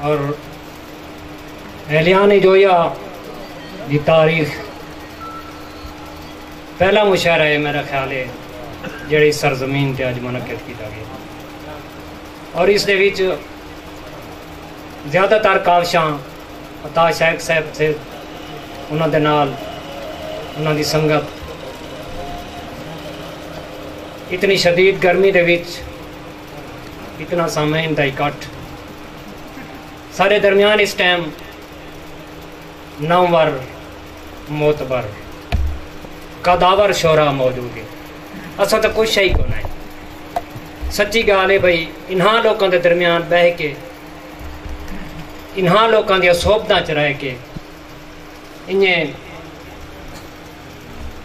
اور اہلیان جویا دی تاریخ پہلا مشاعرہ ہے میرا خیال ہے جڑی سرزمین تے اج منعقد کیتا گیا اور اس دے وچ زیادہ تر کاوشاں عطا شیخ صاحب تھے انہاں دے نال انہاں دی سنگت اتنی شدید گرمی دے وچ اتنا سامعین دا اکٹھ سارے درمیان اس ٹائم نامور معتبر قداور شعرا موجود ہے اسا تو کچھ ہی کو نہیں سچی گال ہے بھائی انہاں لوکاں دے درمیان بہ کے انہاں لوکاں دیا صحبتاں چ رہ کے انہیں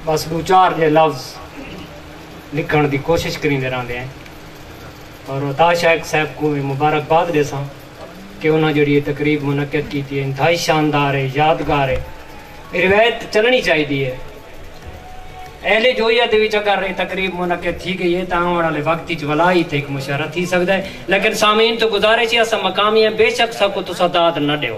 بس دو چار جے لفظ لکھنڑ دی کوشش کریندے رہندے ہیں اور عطا شیخ صاحب کوں وی مبارک باد ڈیساں کہ انہاں جیڑھی یہ تقریب منعقد کیتی ہے انتہائی شاندار ہے یادگار ہے یہ روایت چلنی چاہی دی ہے اہل جوئیہ دے وچ اگر یہ تقریب منعقد تھی گئی ہے تاں آن والے وقت وچ ولا ہی تھے ایک مشاعرہ تھی سکدا ہے لیکن سامعین تو گزارش ہے اسا مقامی ہیں بے شک سا کو تسا داد نہ ڈیو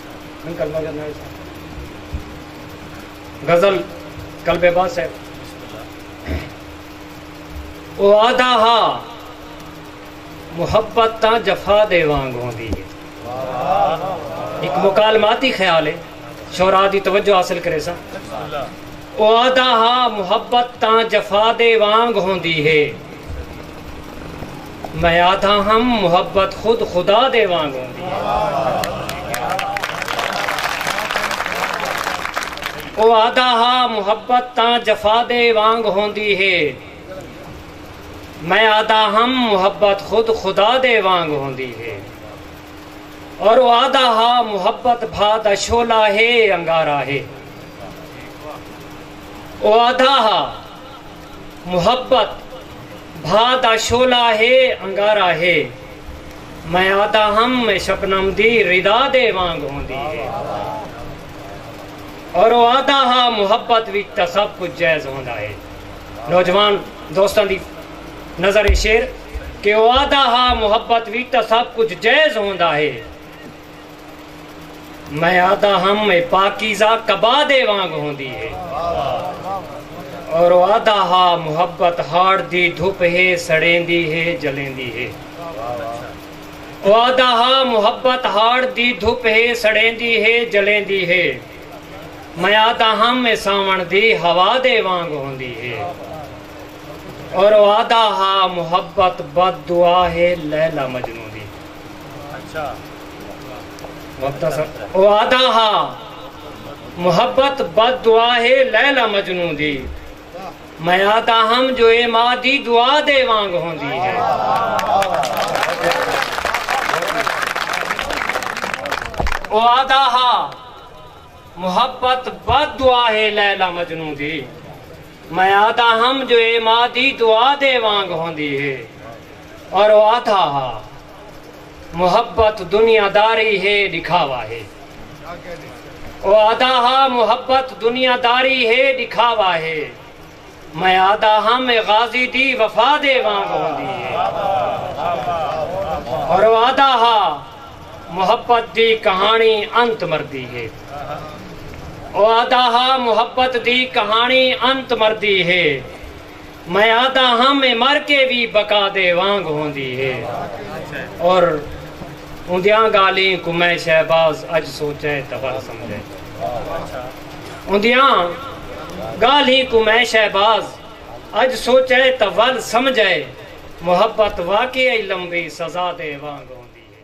غزل قلب بس ہے او آدھا ہا محبت تا جفا دے وانگ ہوندی ہے ایک مکالماتی خیال ہے شعراء دی توجہ حاصل کرے سا او آدھا ہا محبت تا جفا دے وانگ ہوندی ہے میں آدھا ہم محبت خود خدا دے وانگ ہوندی ہے او آدھا ہا محبت تاں جفا دے وانگ ہوندی ہے میں آدھا ہم محبت خود خدا دے وانگ ہوندی ہے اور او آدھا ہا محبت بھا دا شولا ہے انگارا ہے او آدھا ہا محبت بھا دا شعلہ ہے انگارہ ہے میں آہدا ہم میں شبنم دی ردا دے وانگ ہوندی ہے اور او آہدا ہا محبت وچ تاں سب کچھ جائز ہوندا ہے نوجوان دوستاں دی نظر شعر کہ او آہدا ہا محبت وچ تاں سب کچھ جائز ہوندا ہے۔ میں آدھا ہم اے پاکیزہ کبادے وانگ ہوندی ہے اور او آدھا ہا محبت ہاڑ دی دھپ ہے سڑیندی ہے جلیندی ہے او آدھا ہا محبت ہاڑ دی دھپ ہے سڑیندی ہے جلیندی ہے میں آدھا ہم اے ساون دی ہوا دے وانگ ہوندی ہے اور او آدھا ہا محبت بد دعا ہے لیلا مجنون دی وعدہ ہا محبت بد دعا ہے لیلا مجنو دی میں آدھا ہم جو اے ماں دی دعا دے وانگ ہوندی ہے وعدہ ہا محبت بد دعا ہے لیلا مجنو دی میں آہدا ہم جو اے ماء دی دعا دے وانگ ہوندی ہے۔ اور او آہدا ہا۔ محبت دنیا داری ہے ݙکھاوا ہے۔ او آہدا ہا محبت دنیا داری ہے ݙکھاوا ہے۔ میں آہدا ہم اے غازی دی وفا دے وانگ ہوندی ہے۔ اور او آہدا ہا محبت دی کہاݨی انت مردی ہے۔ او آہدا ہا محبت دی کہاݨی انت مردی ہے میں آہدا ہم اے مر کے وی بقا دے وانگ ہوندی ہے اور اوندیاں گالھیں کوں میں شہباز اج سوچے تاں ول سمجھے اوندیاں گالھیں کوں میں شہباز اج سوچے تاں ول سمجھے محبت واقعی لمبی سزا دے وانگ ہوندی ہے۔